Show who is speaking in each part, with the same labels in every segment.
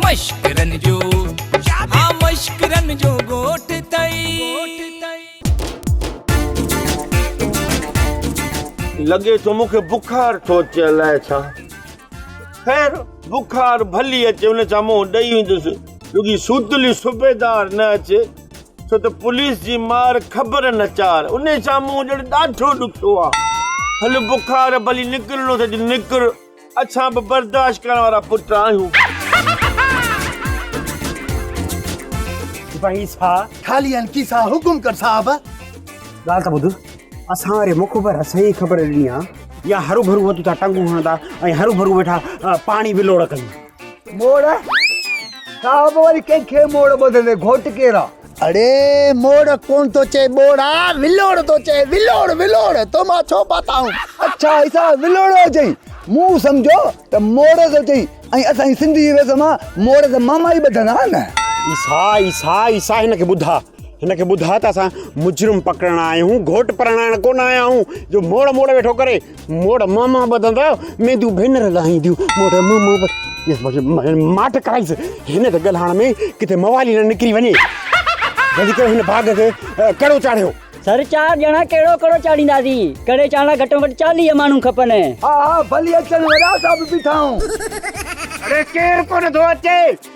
Speaker 1: مشڪرن جو ها مشڪرن جو ڳوٺ تئي.
Speaker 2: لڳي ٿو مون کي بخار ٿو اچي الائي ڇا خير بخار ڀلي اچي ان سان منهن ڏئي ويندس رڳي سوتلي صوبيدار نه اچي ڇو ته پوليس جي مار خبر نه چار انهي سان منهن ڏيڻ ڏاڍو ڏکيو آ هل بخار ڀلي نڪرڻو ٿئي ته نڪر. اسان به برداشت ڪرڻ وارا پٽ آهيون.
Speaker 3: سپاهي سا. خالي ان ڪي سا حڪم ڪر صاحب. ڳالهه ته ٻڌ اسان واري مخبر اسان ئي خبر ڏني آ. يا هروڀرو وتو ٿا ٽنگون هڻندا ۽ هروڀرو ويٺا پاڻي ولوڙ ڪن. موڙ
Speaker 4: صاحب وري ڪنهن کي موڙ ٻڌندي گهوٽ ڪير آ. اڙي
Speaker 5: موڙ ڪون ٿو چئي ٻوڙ آ ولوڙ ٿو چئي ولوڙ ولوڙ تو مان ڇو پاتائون. اڇا ايسا
Speaker 4: ولوڙو چئي مون سمجهيو ته موڙ ٿو چئي ۽ اسان جي سنڌ جي رسم آ موڙ ته ماما ئي ٻڌندا آ نه. ايسا ايسا
Speaker 3: ايسا هن کي ٻڌاء هن کي ٻڌاء ته اسان مجرم پڪڙڻ آيا آهيون گهوٽ پرڻائڻ ڪونه آيا آهيون جو موڙ موڙ ويٺو ڪري. موڙ مون مون ٻڌندا مينديون ڀينر لاهينديون موڙ مون مون ٻڌ ماٺ ڪرائيس هن تي ڳالهائڻ ۾ ڪٿي موالي نه نڪري وڃي جلدي ڪرو هن باغ کي ڪهڙو چاڙهيو سر چار ڄڻا
Speaker 6: ڪهڙو ڪهڙو چاڙهينداسين ڪڙي چاڙهڻ لاء گهٽ ۾ گهٽ چاليهه ماڻهو کپن ها ها ڀلي
Speaker 4: اچن وڏا صاحب بيٺا آهون اڙي
Speaker 3: ڪير ڪونه ٿو اچي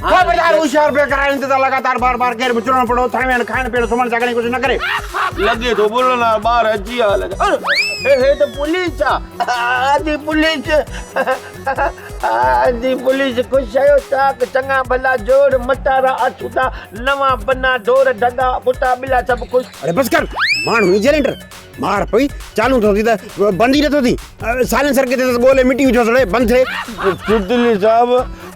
Speaker 2: خبردار
Speaker 3: هوشيار پيو ڪرائين ته لڳاتار بار بار گير به چڙهڻو پڙو اٿڻ ويهڻ کائڻ پيئڻ سمهڻ جاڳڻ جي ڪوشش نه ڪري لڳي ٿو
Speaker 2: بلن وارا ٻار اچي ويا لڳا اڙي هي ته پوليس آ آدي پوليس آدي پوليس خوش شيو چاڪ چڱا ڀلا جوڙ مٽارا آڇودا نوان بنا ڍور ڍڳا ڪتا ٻلا سڀ خوش اڙي بس ڪر
Speaker 3: ماڻهو ايجنٽ مار پئي چالو ٿو ٿي ته بند ئي نٿو ٿي سائلنسر ڪٿي اٿس ڳولي مٽي وجهو سڙي بند ٿئي تبديلي صاحب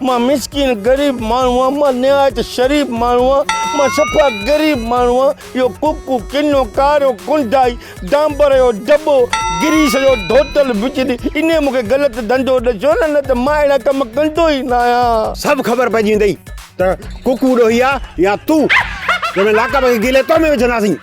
Speaker 2: مان مسڪين غريب ماڻهو آهيان مان نهايت شريف ماڻهو آهيان مان صفا غريب ماڻهو آهيان اهو ڪوڪو ڪنو ڪارو ڪنڊائي ڊامبر جو دٻو گريس جو ڌوتل بجلي ان مون کي غلط ڌنڌو ڏسيو نه نه ته مان اهڙا ڪم ڪندو ئي نه آهيان سڀ خبر پئجي ويندئي
Speaker 3: ته ڪوڪو ڏوهي آهي يا تون جنهن لاکا پکي گيلي تو ۾ وجهنداسين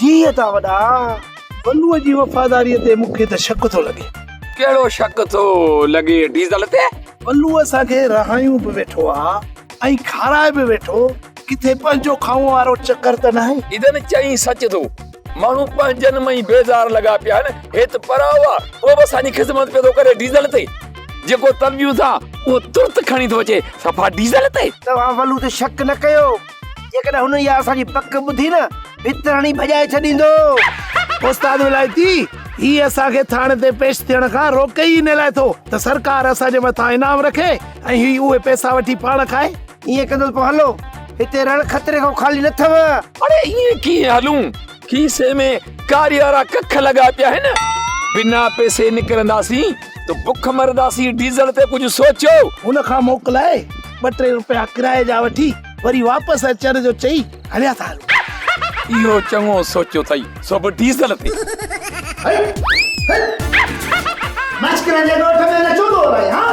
Speaker 4: جيء ٿا وڏا بلوء جي وفاداريء تي مون کي ته شڪ ٿو لڳي. ڪهڙو شڪ
Speaker 1: ٿو لڳي ڊيزل تي؟ بلوء اسان کي
Speaker 4: رهايون به ويٺو آ ۽ کارائي به ويٺو، ڪٿي پنهنجو کائون وارو چڪر ته ناهي؟ ڊيزل چيائين سچ ٿو،
Speaker 1: ماڻهو پنهنجن ۾ ئي بيزار لڳا پيا آهن، هي ته پرايو آ، اهو به اسان جي خذمت پيو ٿو ڪري ڊيزل تي جيڪو طلبيون ٿا اهو ترت کڻي ٿو اچي صفا ڊيزل تي. توهان بلوء تي شڪ
Speaker 4: نه ڪيو. جيڪڏهن هن اها اسان جي بڪ ٻڌي نه ڀت هڻي ڀڄائي ڇڏيندو. استاد ولايتي، هي اسان کي ٿاڻي تي پيش ٿيڻ کان روڪي ئي ان لاء ٿو ته سرڪار اسان جي مٿان انعام رکي ۽ هي اهي پئسا وٺي پاڻ کائي. ائين ڪندو ته پوء هلو، هتي رڻ خطري کان خالي نه اٿئو. اڙي ائين
Speaker 1: ڪيئن هلون؟ کيسي ۾ ڪاري وارا ڪک لڳا پيا آهن بنا پيسي نڪرنداسين ته بک مرنداسين ڊيزل تي ڪجهه سوچو هن کان موڪلائي
Speaker 4: ٻه ٽي روپيا ڪرايي جا وٺي وري واپس اچڻ جو چئي هليا ٿا هلون اهو
Speaker 1: چڱو سوچيو اٿئي سو به ڊيزل تي
Speaker 2: مشڪل جي ڳوٺ ۾ اڃا چوڏهون آهي ها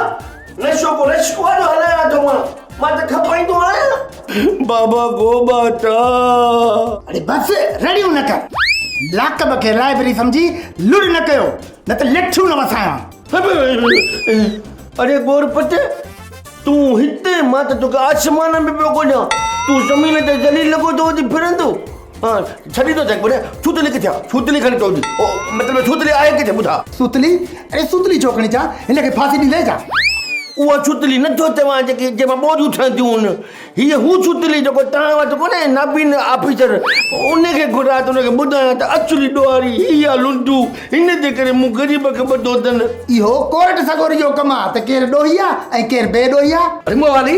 Speaker 2: نشو ڪو رش ڪو آڏو هلايان آڏو مان مان ته کپائيندو آهيان
Speaker 5: بابا گو باٽا اڙي بس رڙيون نه ڪر لاڪب کي لائبرري سمجهي لڙ نه ڪيو نه ته لٺيون نه وسايان
Speaker 2: اڙي گور پٽ تون هتي مان ته توکي آسمان ۾ پيو ڳوليان تون زمين تي ذليل لڳو ٿو وڃي ڦرندو ڇڏيندو جڳ ڀر ڇوتلي ڪٿي آ ڇوتلي کڻي چؤ جي او مطلب ڇوتلي
Speaker 5: آهي
Speaker 2: ڪٿي ٻڌا.
Speaker 5: سوتلي اڙي سوتلي
Speaker 2: ڇو
Speaker 5: کڻي چان هن
Speaker 2: کي ڦاسي
Speaker 5: ڏيندين ڇا. اها
Speaker 2: ڇوتلي نه ٿو چوان جيڪي جنهن مان ٻوريون ٺهنديون هن هيء هو ڇوتلي جيڪو توهان وٽ ڪونهي نابين آفيسر ان کي گهران ته ان کي ٻڌايان ته اصلي ڏوهاري هي آ لنڊو هن جي ڪري مون غريب کي ٻڌو اٿن. اهو ڪورٽ
Speaker 5: سڳوري جو ڪم آ ته ڪير ڏوهي آ ۽ ڪير بي ڏوهي آ. رموالي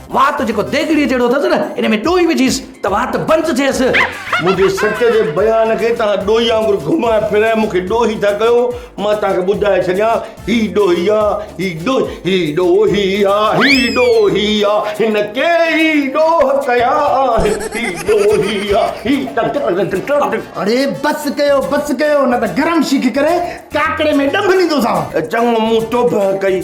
Speaker 4: وات جيڪو ديڳڙيء جهڙو اٿس نه، ان ۾ ڏوئي وجهيس ته وات بند ٿئيس. منهنجي سچ
Speaker 2: جي بيان کي توهان ڏوهي وانگر گهمائي ڦرائي مون کي ڏوهي ٿا ڪيو. مان توهان کي ٻڌائي ڇڏيان، هي ڏوهي آ، هي ڏوهي، هي ڏوهي آ، هي ڏوهي آ، هن ڪيئي ڏوهه ڪيا آهن، هي ڏوهي آ، هي ٽڪ.
Speaker 5: اڙي بس ڪيو، بس ڪيو، نه ته گرم شيخ ڪري ڪاڪڙي ۾ ڏنڀ ڏيندوسانو. چڱو، مون توبهه
Speaker 2: ڪئي.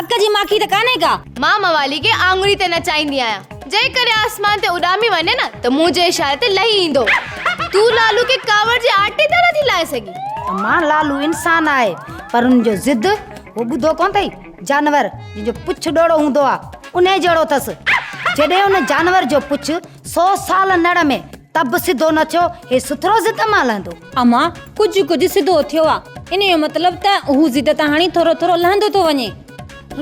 Speaker 7: اک جي ماکي ته ڪانهي ڪا. مان موالي کي
Speaker 8: آڱري تي نچائيندي آهيان. جيڪڏهن آسمان تي اڏامي وڃي نه ته منهنجي اشاري تي لهي ايندو. تون لالو کي ڪاوڙ جي آٽي تان نٿي لاهي سگهين. امان، لالو
Speaker 9: انسان آهي پر ان جو ضد هو ٻڌو ڪونه اٿئي. جانور جنهن جو پڇ ڏوڙو هوندو آهي، انهي جهڙو اٿس. جڏهن ان جانور جو پڇ سو سال نڙ ۾. ته به سڌو نه ٿيو، هي سٿرو ضد مان لهندو. امان، ڪجهه
Speaker 7: ڪجهه سڌو ٿيو آ، انهيء جو مطلب ته هو ضد تان هاڻي ٿورو ٿورو لهندو ٿو وڃي.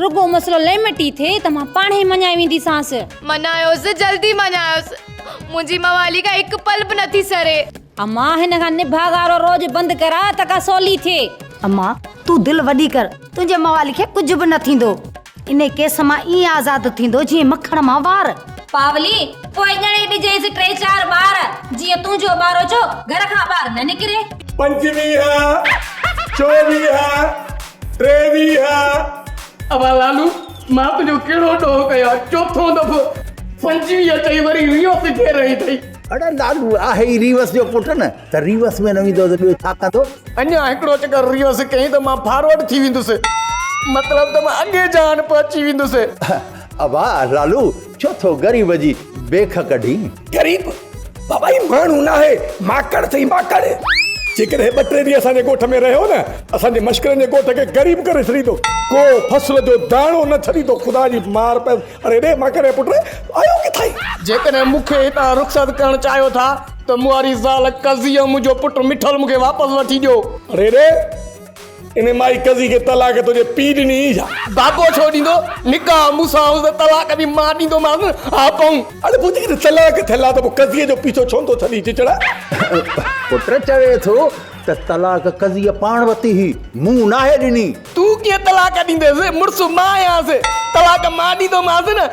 Speaker 7: رڳو مسئلو ليمٽي ٿئي ته مان پاڻ هي مڃائي وينديسانس. مڃايوس، جلدي
Speaker 8: مڃايوس. منهنجي موالي کان هڪ پل به نٿي سري. امان، هن کان
Speaker 7: نڀاء گارو روڄ بند ڪراء ته ڪا سولي ٿئي. امان، تون
Speaker 9: دل وڏي ڪر، تنهنجي موالي کي ڪجهه به نه ٿيندو. انهيء ڪيس مان ائين آزاد ٿيندو جيئن مکڻ مان وار. پاولي،
Speaker 7: پوء ڄڻي ڏجيس ٽي چار ٻار، جيئن تنهنجو ٻاروچو گهر کان ٻاهر نه نڪري. پنجويهه،
Speaker 3: چوويهه، ٽيويهه.
Speaker 4: امان لالو، مان تنهنجو ڪهڙو ڏوهه ڪيان، چوٿون دفعو پنجويهه چئي وري ويهه سگهي رهي ٿئي. اڙي لالو،
Speaker 10: آهي ئي ريوس جو پٽ نه. ته ريورس ۾ نه ويندو ته ٻيو ڇا ڪندو؟ اڃا هڪڙو چڪر
Speaker 4: ريورس ڪيائين ته مان فارورڊ ٿي ويندس. مطلب ته مان اڳي جهان پهچي ويندس. ابا
Speaker 10: لالو ڇو ٿو غريب جي بيک ڪڍين؟ غريب،
Speaker 3: بابا هي ماڻهو ناهي، ماڪڙ اٿئي ماڪڙ. جيڪڏهن هي ٻه ٽي ڏينهن اسان جي ڳوٺ ۾ رهيو نه، اسان جي مشڪرن جي ڳوٺ کي غريب ڪري ڇڏيندو. ڪو فصل جو داڻو نه ڇڏيندو. خدا جي مار پيس. اڙي ڙي ماڪڙ جي پٽ، آيو ڪٿائين؟ جيڪڏهن مون کي
Speaker 4: هتان رخصت ڪرڻ چاهيو ٿا. ته مئاري زال ڪزي ۽ منهنجو پٽ مٺل مون کي واپس وٺي ڏيو. اڙي ڙي!
Speaker 3: ان مائي ڪزي کي طلاق تنهنجي پيء ڏني هئي ڇا؟ بابو ڇو ڏيندو؟
Speaker 4: نڪاح مون سان هوس ته طلاق به مان ڏيندومانس نه. ها پنهون! اڙي پوء جيڪڏهن طلاق
Speaker 3: ٿيل آ ته پوء ڪزي جو پيڇو ڇو نٿو ڇڏين چچڙا؟
Speaker 10: پٽ چوي ٿو ته طلاق ڪزي پاڻ ورتي هئي، مون ناهي ڏني. تون ڪيئن طلاق
Speaker 4: ڏينديس؟ مڙس مان آهيانس. طلاق مان ڏيندومانس نه.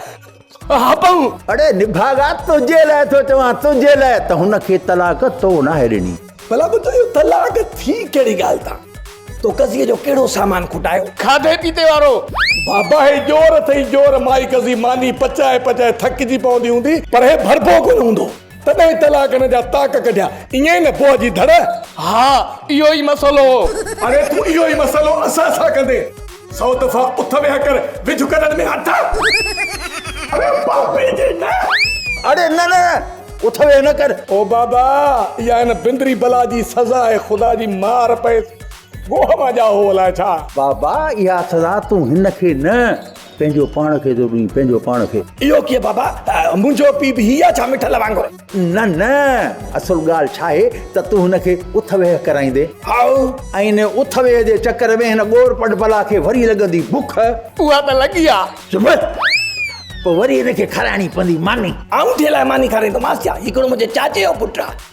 Speaker 4: هابنگ، اڙي نڀاڳا
Speaker 10: تنهنجي لاء ٿو چوان تنهنجي لاء ته هن کي طلاق تو ناهي ڏني. ڀلا ٻڌ اهو
Speaker 3: طلاق ٿي ڪهڙي ڳالهه تان؟ تو قضيء جو ڪهڙو سامان کوٽايو؟ کاڌي پيتي وارو.
Speaker 4: بابا هي
Speaker 3: ڄور اٿئي ڄور مائي قضي ماني پچائي پچائي ٿڪجي پوندي هوندي پر هي ڀربو ڪونه هوندو. تڏهن طلاق ان جا طاق ڪڍيا. ائين ئي نه پوء جي ڌڙ. ها
Speaker 4: اهو ئي مسئلو هو. اڙي تون اهو ئي
Speaker 3: مسئلو اسان سان ڪندين. سو دفعا اٿ ويهه ڪر وجهه ڪڍڻ ۾ هٿ. اڙي بابي جي نه. اڙي نه نه
Speaker 10: اٿ ويهه نه ڪر. او بابا
Speaker 3: اها هن بندري بلا جي سزا آهي خدا جي مار پئيس گوهه مان ڄائو هو الائي ڇا. بابا اها
Speaker 10: سزا تون هن کي نه. پنهنجو پاڻ کي ٿو ڏئين پنهنجو پاڻ کي. اهو ڪيئن بابا
Speaker 3: منهنجو پيء به هي آ ڇا مٺل وانگر. نه نه
Speaker 10: اصل ڳالهه ڇاهي ته تون هن کي اٿ ويهه ڪرائيندين. هائو. ۽ ان اٿ ويهه جي چڪر ۾ هن ڳور پڊ بلا کي وري لڳندي بک. اها ته لڳي
Speaker 4: آ. چپ!
Speaker 10: پوء وري هن کي کارائڻي پوندي ماني. آئون ٿي الاء
Speaker 3: ماني کارائيندومانس ڇا هي ڪهڙو منهنجي چاچي جو پٽ
Speaker 10: آ.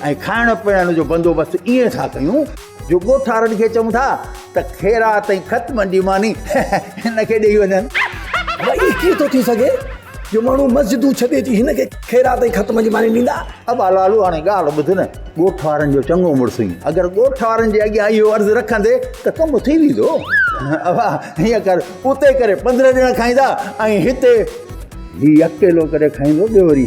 Speaker 10: ۽ کائڻ پيئڻ جو بندوبست ائين ٿا ڪيون جو ڳوٺارن کي چئون ٿا ته خيرات ۽ خط منڊي ماني هن کي ڏيئي وڃن. ڀلا ائين
Speaker 4: ڪيئن ٿو ٿي سگهي جو ماڻهو مسجدون ڇڏي اچي هن کي خيرات ۽ خط منڊي ماني ڏيندا؟ ابا لالو هاڻي
Speaker 10: ڳالهه ٻڌ نه، ڳوٺ وارن جو چڱو مڙس آهين، اگر ڳوٺ وارن جي اڳيان اهو عرض رکندي ته ڪم ٿي ويندو. ابا هيئن ڪر اتي ڪري پندرهن ڄڻا کائيندا ۽ هتي هي اڪيلو ڪري کائيندو ٻيو وري.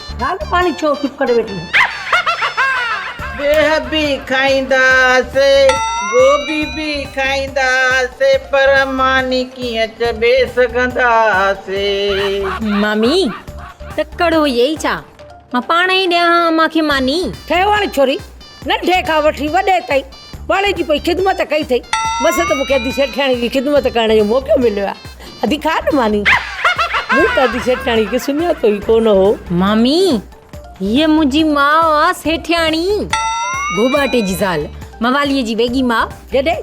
Speaker 6: نالو پاڻي ڇو چپ ڪري ويٺي آهين. بيهه
Speaker 11: به کائيندا هئاسي گوبي به کائيندا هئاسي پر ماني ڪيئن چٻي سگهندا هئاسي.
Speaker 7: مامي تڪڙ هئي ئي ڇا مان پاڻ ئي ڏيان هان امان کي ماني. ٺهه وڻ ڇوري
Speaker 6: ننڍي کان وٺي وڏي تائين پاڻي جي پئي خدمت ڪئي اٿئي بس ته مون کي ادي سيٺياڻي جي خدمت ڪرڻ جو موقعو مليو آ ادي کاء نه ماني مون ته ادي سيٺياڻي کي سڃاتو ئي ڪونه هو مامي
Speaker 7: هيء منهنجي ماء آ سيٺياڻي گهوٻاٽي جي زال مواليء جي ويڳي ماء جڏي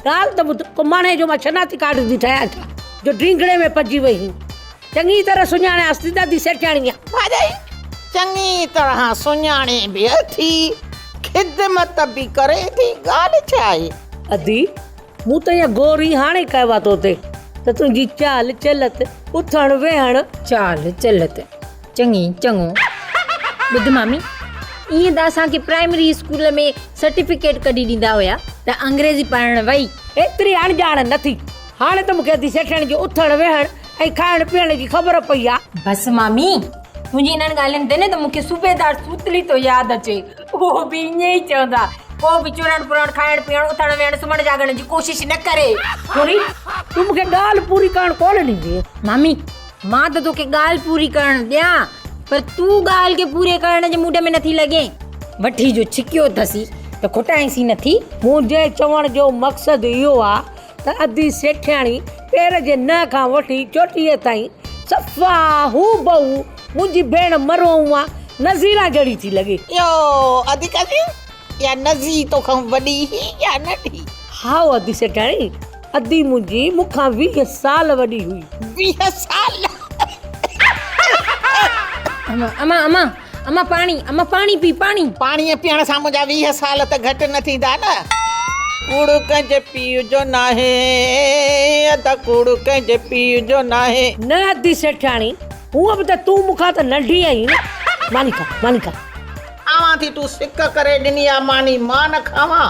Speaker 6: ڳالهه ته ٻڌ ڪو ماڻهي جو مان شناختي ڪارڊ ٿي ٺاهيان ڇا جو ڊينگڙي ۾ پئجي وئي هين. چڱي طرح سڃاڻيانس ٿي دادي سيٺياڻيء. ڀاڄائي
Speaker 11: چڱي طرح سڃاڻي به اٿي، خدمت به ڪري ٿي، ڳالهه ڇا آهي؟ ادي،
Speaker 6: مون ته ايئن غور ئي هاڻي ڪيو آهي توتي ته تنهنجي چال چلت، اٿڻ ويهڻ. چال چلت
Speaker 7: چڱي، چڱو. ٻڌ مامي، ايئن ته اسان کي پرائمري اسڪول ۾ سرٽيفڪيٽ ڪڍي ڏيندا هيا ته انگريزي پڙهڻ وئي. ايتري اڻڄاڻ
Speaker 6: نه ٿي. هاڻي ته مون کي ادي سيٺياڻي جي اٿڻ ويهڻ ۽ کائڻ پيئڻ جي خبر پئي آ. بس مامي،
Speaker 7: تنهنجي انهن ڳالهين تي نه ته مون کي صوبيدار سوتلي ٿو ياد اچي. اهو به ائين ئي چوندا، ڪو به چرڻ پرڻ، کائڻ پيئڻ، اٿڻ ويهڻ، سمهڻ جاڳڻ جي ڪوشش نه ڪري. ٿوري،
Speaker 6: تون مون کي ڳالهه پوري ڪرڻ ڪونه ڏيندينء. مامي،
Speaker 7: مان ته توکي ڳالهه پوري ڪرڻ ڏيان، پر تون ڳالهه کي پوري ڪرڻ جي موڊ ۾ نٿي لڳين. وٺي جو ڇڪيو اٿسين ته کوٽائينسين نٿي. منهنجي چوڻ
Speaker 6: جو مقصد اهو آ ته ادي سيٺياڻي پير جي ننهن کان وٺي چوٽيء تائين صفا هو بهو منهنجي ڀيڻ مرحومه نظيره جهڙي ٿي لڳي. يو ادي
Speaker 11: ڪاڪي اها نظي توکان وڏي هئي يا ننڍي؟ هائو ادي
Speaker 6: سيٺياڻي، ادي منهنجي مون کان ويهه سال وڏي هئي. ويهه سال!
Speaker 7: امان! امان! اما پاڻي، اما پاڻي پي، پاڻي. پاڻيء پيئڻ سان منهنجا
Speaker 11: ويهه سال ته گهٽ نه ٿيندا نه. ڪوڙ ڪنهن جي پيء جو ناهي. ادا ڪوڙ ڪنهن جي پيء جو ناهي. نه ادي سيٺياڻي،
Speaker 6: هونء به ته تون مون کان ته ننڍي آهين نه. ماني کا، ماني کا. کاوان
Speaker 11: ٿي، تون سڪ ڪري ڏني آ ماني، مان نه کاوان.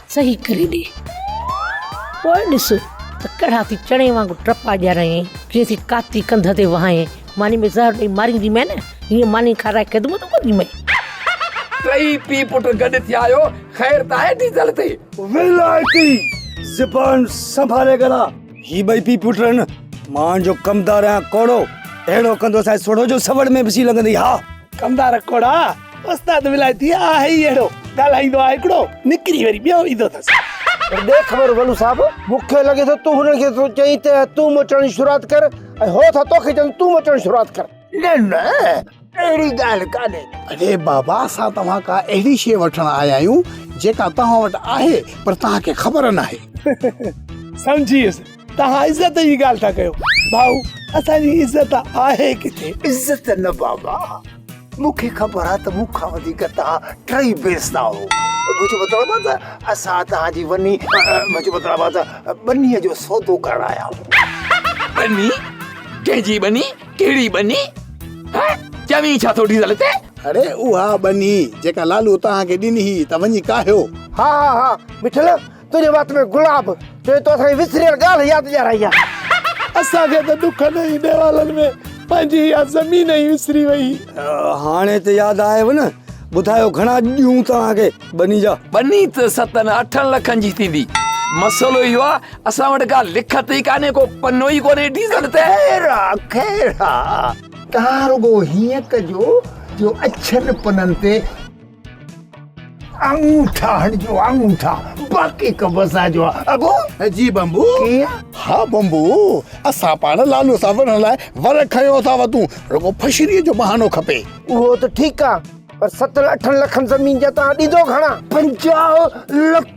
Speaker 6: صحيح ڪري ڏي پوء ڏس ته ڪهڙا ٿي چڻي وانگر ٽپا ڏياريائين ڪيئن ٿي ڪاتي ڪنڌ تي وهائين ماني ۾ زهر ڏئي مارينديمانء نه هيئن ماني کارائي خدمتون ڪنديمانء ٽيئي
Speaker 1: پيء پٽ گڏ ٿي آيو خير ته آهي ڊيزل تي ويلائتي
Speaker 4: زبان سنڀالي ڳالهاء هي ٻئي پيء پٽ آهن مان جو ڪمدار آهيان ڪوڙو اهڙو ڪندو سائين سوڍو جو سوڙ ۾ به شي لڳندي ها ڪمدار ڪوڙا استاد ولايتي آهي ئي اهڙو ڳالهائيندو آهي هڪڙو نڪري وري ٻيو ايندو اٿس. پر ڏي خبر
Speaker 2: ولو صاحب. مون کي لڳي ٿو تون هنن کي ٿو چئين ته تون مچڻ جي شروعات ڪر ۽ هو ٿا تو کي چون تون مچڻ جي شروعات ڪر. نه نه
Speaker 4: اهڙي ڳالهه ڪانهي. اڙي بابا اسان توهان ڪا اهڙي شيء وٺڻ آيا آهيون جيڪا توهان وٽ آهي پر توهان کي خبر ناهي. سمجهي ويس توهان عزت جي ڳالهه ٿا ڪيو ڀائو اسان جي عزت آهي ڪٿي. عزت نه بابا. مون کي خبر آهي ته مون کان وڌيڪ توهان ٽئي بيستا آهو منهنجو مطلب آهي ته اسان توهان جي وني منهنجو مطلب آهي ته ٻنيء جو سودو ڪرڻ آيا آهيون ٻني
Speaker 1: ڪنهن جي ٻني ڪهڙي ٻني چوي ڇا ٿو ڊيزل تي اڙي اها
Speaker 5: ٻني جيڪا لالو توهان کي ڏني هئي ته وڃي ڪاهيو ها ها ها
Speaker 4: مٺل تنهنجي وات ۾ گلاب جو تو اسان وسريل ڳالهه ياد ڏيارائي آ اسان کي ته ڏکن
Speaker 12: ۽ ڏيوالن ۾ پنهنجي اها زمين ئي وسري وئي هاڻي ته
Speaker 13: ياد آيو نه ٻڌايو گهڻا ڏيون توهان کي ٻني جا. ٻني ته ستن
Speaker 1: اٺن لکن جي ٿيندي مسئلو اهو آ اسان وٽ ڪا لکت ئي ڪانهي ڪو پنو ئي ڪونهي ڊيزل تي. خير آ خير
Speaker 4: آ تان رڳو هيئن ڪجو جو اڇن پنن تي. انگوٺا هڻ جو انگوٺا باقي ڪم اسان جو آ ابو جي بمبو ڪيئن
Speaker 5: ها بمبو اسان پاڻ لالو سان وڙهڻ لاء ور کنيو اٿا وتون رڳو فشري جو بهانو کپي اهو ته ٺيڪ آ
Speaker 4: پر ستن اٺن لکن زمين جا توهان ڏيندو گهڻا پنجاهه لک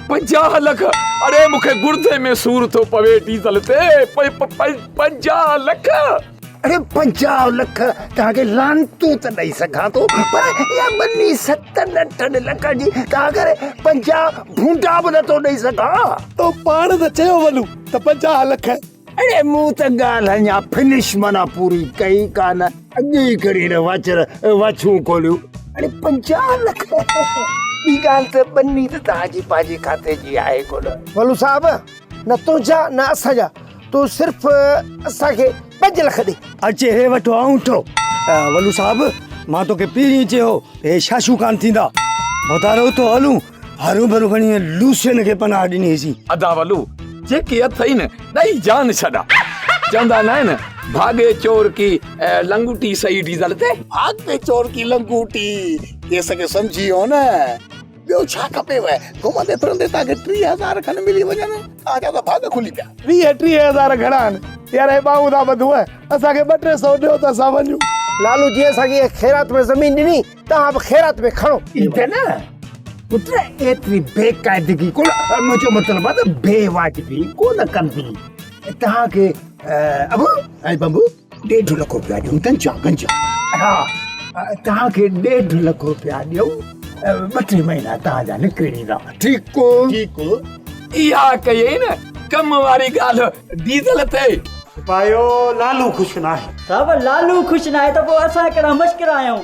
Speaker 1: پنجاهه لک اڙي مونکي گڙدي ۾ سور ٿو پوي ڊيزل تي پنجاهه لک اڙي
Speaker 4: پنجاهه لک توهان کي لانتون ته ڏئي سگهان ٿو پر اها ٻني ستن اٺن لکن جي توهان کي پنجاهه ڀونڊا به نٿو ڏئي سگهان تو پاڻ ته
Speaker 12: چيو ولو ته پنجاهه لک اڙي مون ته
Speaker 4: ڳالهه اڃا فنش معنيٰ پوري ڪئي ڪانه اڳ ئي کڻي هن واچر واڇون کوليون اڙي پنجاهه لک ٻي ڳالهه ته ٻني ته توهان جي پنهنجي کاتي جي آهي ڪونه ولو صاحب نه تنهنجا نه اسان جا تون صرف اسان کي پنج لک ڏي. اچي هي وٺ آئون
Speaker 13: ٿو. ولو صاحب مان توکي پهرين ئي چيو هو هي شاشو ڪانه ٿيندا. ڀتارو اٿو هلون. هرو ڀرو کڻي لوسين کي پناهه ڏني سين. ادا ولو
Speaker 1: جيڪي اٿئي نه ڏئي جان ڇڏا. چوندا نه آهن ڀاڳي چور ڪي لنگوٽي سئي ڊيزل تي. ڀاڳي چور ڪي
Speaker 5: لنگوٽي ڪيس کي سمجهي هو نه. ٻيو ڇا کپيو؟ گهمندي ڦرندي توهان کي ٽيهه هزار کن ملي وڃن، توهان جا ته ڀاڳ کلي پيا. ويهه ٽيهه هزار گهڻا
Speaker 12: آهن؟ يار هي ٻانهون ٿا ٻڌون، اسان کي ٻه ٽي سئو ڏيو ته اسان وڃون. لالو جي اسان کي
Speaker 4: خيرات ۾ زمين ڏني، توهان به خيرات ۾ کڻو. ڏيندا نه پٽ، ايتري بي قاعدگي ڪو نه. منهنجو مطلب آهي ته بي واجبي ڪو نه ڪندي. توهان کي ابو ۽ بنبو. ڏيڍ لک روپيا ڏيون گنجا گنجا ها توهان کي ڏيڍ لک روپيا ڏيون ٻه ٽي مهينا توهان جا نڪري ويندا ٺيڪ ٺيڪ
Speaker 5: اها
Speaker 1: ڪئي نه ڪم واري ڳالهه ڊيزل تي پايو
Speaker 3: لالو خوش ناهي صاحب لالو خوش
Speaker 14: ناهي ته پوء اسان ڪهڙا مشڪر آهيون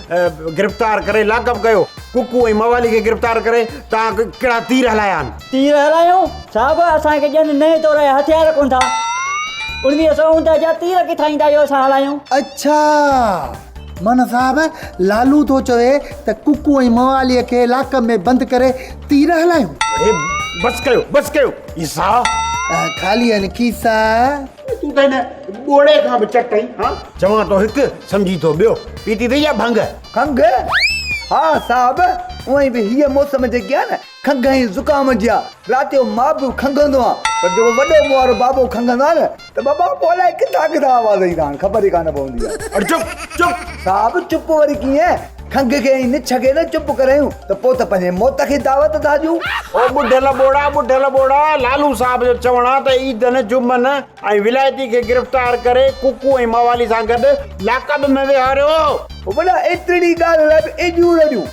Speaker 3: گرفتار ڪري لاڪ اپ ڪيو. ڪڪو ۽ موالي کي گرفتار ڪري توهان ڪهڙا تير هلايا آهن؟ تير هلايون؟
Speaker 14: صاحب اسان کي ڄن نئين دور جا هٿيار ڪونه ٿا. اڻويهه سؤ اڻ ڏهه جا تير ڪٿان ايندا جو اسان هلايون؟ اڇا!
Speaker 5: مئن صاحب لالو ٿو چوي ته ڪڪو ۽ موالي کي لاڪ اپ ۾ بند ڪري تير هلايون؟ بس ڪيو
Speaker 3: بس ڪيو عيسيٰ! خالي آهن
Speaker 5: کيسا.
Speaker 3: تون ته هن ٻوڙي کان به چٽ آهين ها. چوان ٿو هڪ سمجهين ٿو ٻيو. پيتي اٿئي ڇا ڀنگ؟ کنگهه؟
Speaker 10: ها صاحب اوهين به هيء موسم جيڪي آهي نه کنگهه ۽ زڪام جي آ. رات جو مان به کنگهندو آهيان پر جيڪو وڏو مون وارو بابو کنگهندو آهي نه ته بابا پوء الائي ڪٿان ڪٿان آواز ايندا آهن خبر ئي ڪانه پوندي آهي. اڙ چپ چپ.
Speaker 3: صاحب چپ
Speaker 10: وري ڪيئن؟ کنگهه کي ۽ نڇ کي نه چپ ڪرايون ته پوء ته پنهنجي موت کي دعوت ٿا ڏيون. او ٻڍل
Speaker 3: ٻوڙا ٻڍل ٻوڙا، لالو صاحب جو چوڻ آ ته عيدن، جمعن ۽ ولايتي کي گرفتار ڪري ڪوڪو ۽ موالي سان گڏ لاڪب ۾ ويهاريو. او ٻڍا ايترڙي
Speaker 10: ڳالهه لاء به ايڏيون رڙيون،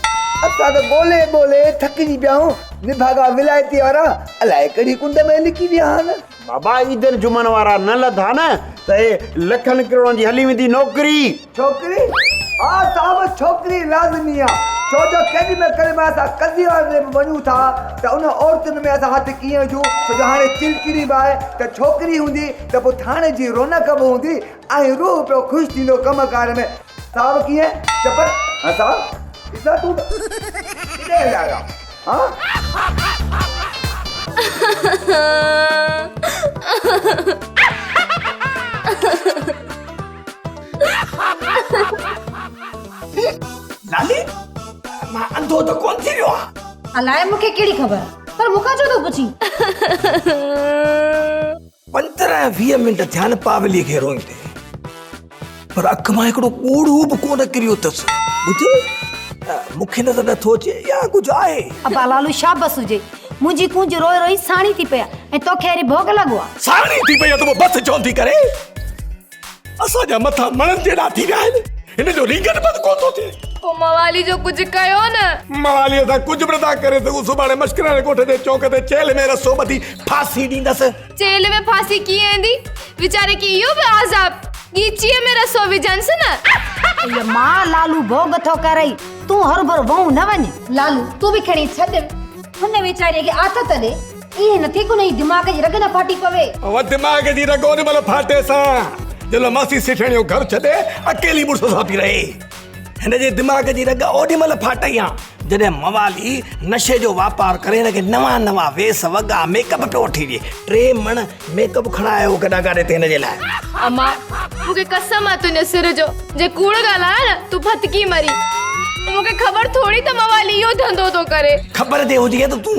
Speaker 10: اسان ته ڳولهي ڳولهي ٿڪجي پيا آهيون، نڀاڳا ولايتي وارا الائي ڪهڙي ڪنڊ ۾ لڪي ويا آهن. بابا عيدن
Speaker 3: جمعن وارا نه لڌا نه ته هي لکن ڪروڙن جي هلي ويندي نوڪري ڇوڪري ها
Speaker 10: صاحب ڇوڪري لازمي آ ڇو جو ڪيڏي مهل ڪڏهن مهل اسان قضي واري هنڌ به وڃون ٿا ته ان عورتن ۾ اسان هٿ ڪيئن وجهون ڇو جو هاڻي چلڪڙي به آهي ته ڇوڪري هوندي ته پوء ٿاڻي جي رونق به هوندي ۽ روح پيو خوش ٿيندو ڪم ڪار ۾ صاحب ڪيئن چپر هسا اسا تون ڪيڏي هليا ويا ها
Speaker 4: ناني مان انڌو ته ڪون ٿي ويو آهي
Speaker 9: الائي مونکي ڪهڙي خبر پر مونکان ڇو ٿو پڇين
Speaker 13: پندرهن ويهه منٽ ٿيا آهن پاولي کي روئيندي پر اک مان هڪڙو ڳوڙهو به ڪونه ڪريو اٿس ٻڌ مون کي نظر نٿو اچي يا ڪجهه آهي ابا لالو شابس
Speaker 9: هجي منهنجي ڪونج روئي روئي ساڻي ٿي پئي آهي ۽ توکي اهڙي ڀوڳ لڳو آهي ساڻي ٿي پئي آهي ته پوء بس
Speaker 13: چوندي ڪري اسان جا مٿا مڻن جيڏا ٿي ويا آهن هن جو رينگن بند ڪو ٿو ٿئي پو موالي جو
Speaker 8: ڪجهه ڪيو نه موالي سان ڪجهه به
Speaker 13: نٿا ڪري سگهون سڀاڻي مشڪران ڳوٺ جي چوڪ تي چيلهه ۾ رسو ٻڌي ڦاسي ڏيندس چيلهه ۾ ڦاسي
Speaker 8: ڪيئن ايندي ويچاري کي اهو به عذاب ڳيچيء ۾ رسو وجهنس نه اي ماء لالو
Speaker 9: ڀوڳ ٿو ڪرئي تون هربر وهون نه وڃ لالو تون به کڻي ڇڏ هن ويچاري کي آٿت ڏي ائين نه ٿئي ڪنهن جي دماغ جي رڳ نه ڦاٽي پوي. اوهان دماغ جي
Speaker 13: رڳ ان مهل ڦاٽي سان جنهن مهل ماسي سيٺياڻي جو گهر ڇڏي اڪيلي مڙس سان پئي رهي. هن جي دماغ جي رڳ اوڏي مهل ڦاٽئي ها جڏهن موالي نشي جو واپار ڪري هن کي نوان نوان ويس وڳا ميڪ اپ پيو وٺي ڏي. ٽي مڻ ميڪ اپ کڻائي آيو هو گڏا گاڏي تي هن جي لاء. اما
Speaker 8: مون کي قسم آهي تنهنجي سر جو جي ڪوڙ ڳالهايان نه تون ڦٿڪي مرين. مون کي خبر ٿوري ته موالي اهو ڌنڌو ٿو ڪري. خبر جي هجي ها ته
Speaker 13: تون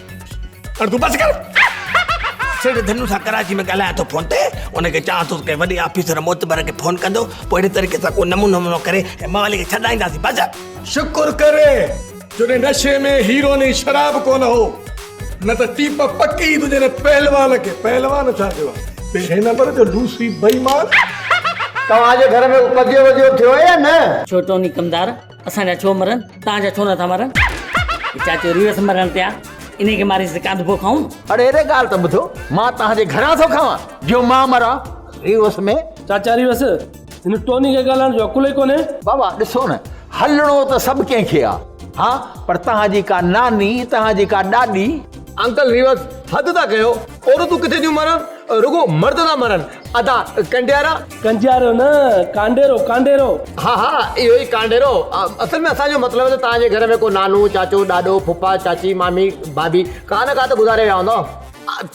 Speaker 13: بس ڪر سيٺ ڌنو سان ڪراچي ۾ ڳالهايان ٿو فون تي ان کي چوان ٿو ته وڏي آفيسر معتبر کي فون ڪندو پوء اهڙي طريقي سان ڪو نمونو نمونو ڪري ۽ موالي کي ڇڏائينداسين بس شڪر ڪر جو ان نشي ۾ هيرو ني شراب ڪونه هو نه ته ٽيپ پڪي تنهنجي ان پهلوان کي پهلوان ڇا ٿيو آهي پهرين نمبر جو لوسي بيمان توهان
Speaker 10: جي گهر ۾ ڪو ڪجيو وجيو ٿيو آهي يا نه ڇوٽوني ڪمدار
Speaker 14: اسان جا ڇو مرن توهان جا ڇو نٿا مرن هي چاچو ريس مرڻ تي آ انهي کي ماريس ته ڪانڌ پو کائون اڙي اڙي ڳالهه ته ٻڌو
Speaker 10: مان توهان جي گهران ٿو کاوان جو مان مران ريس ۾ چاچا ريس
Speaker 12: هن ٽوني کي ڳالهائڻ جو عقل ئي ڪونهي بابا ڏسو نه
Speaker 10: هلڻو ته سڀ ڪنهن کي آ ها پر توهان جي ڪا ناني توهان جي ڪا ڏاڏي انڪل ريس
Speaker 15: حد ٿا ڪيو. عورتون ڪٿي ٿيون مرن، رڳو مرد ٿا مرن. ادا ڪنڊيارا.
Speaker 12: ڪنجيارو نه ڪانڊيرو ڪانڊيرو. ها ها اهو
Speaker 15: ئي ڪانڊيرو. اصل ۾ اسان جو مطلب آهي ته توهان جي گهر ۾ ڪو نانو، چاچو، ڏاڏو، ڦوڦا، چاچي، مامي، ڀاڀي ڪا نه ڪا ته گذاري ويا هوندا.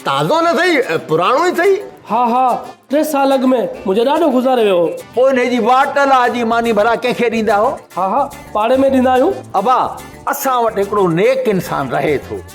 Speaker 15: تازو نه سهي پراڻو ئي سهي. ها ها ٽي
Speaker 12: سال اڳ ۾ منهنجو ڏاڏو گذاري ويو هو. پوء انهي جي واٽ
Speaker 10: الاء جي ماني ڀلا ڪنهن کي ڏيندا هو. ها ها پاڙي ۾
Speaker 12: ڏيندا آهيون. ابا اسان
Speaker 10: وٽ هڪڙو نيڪ انسان رهي ٿو.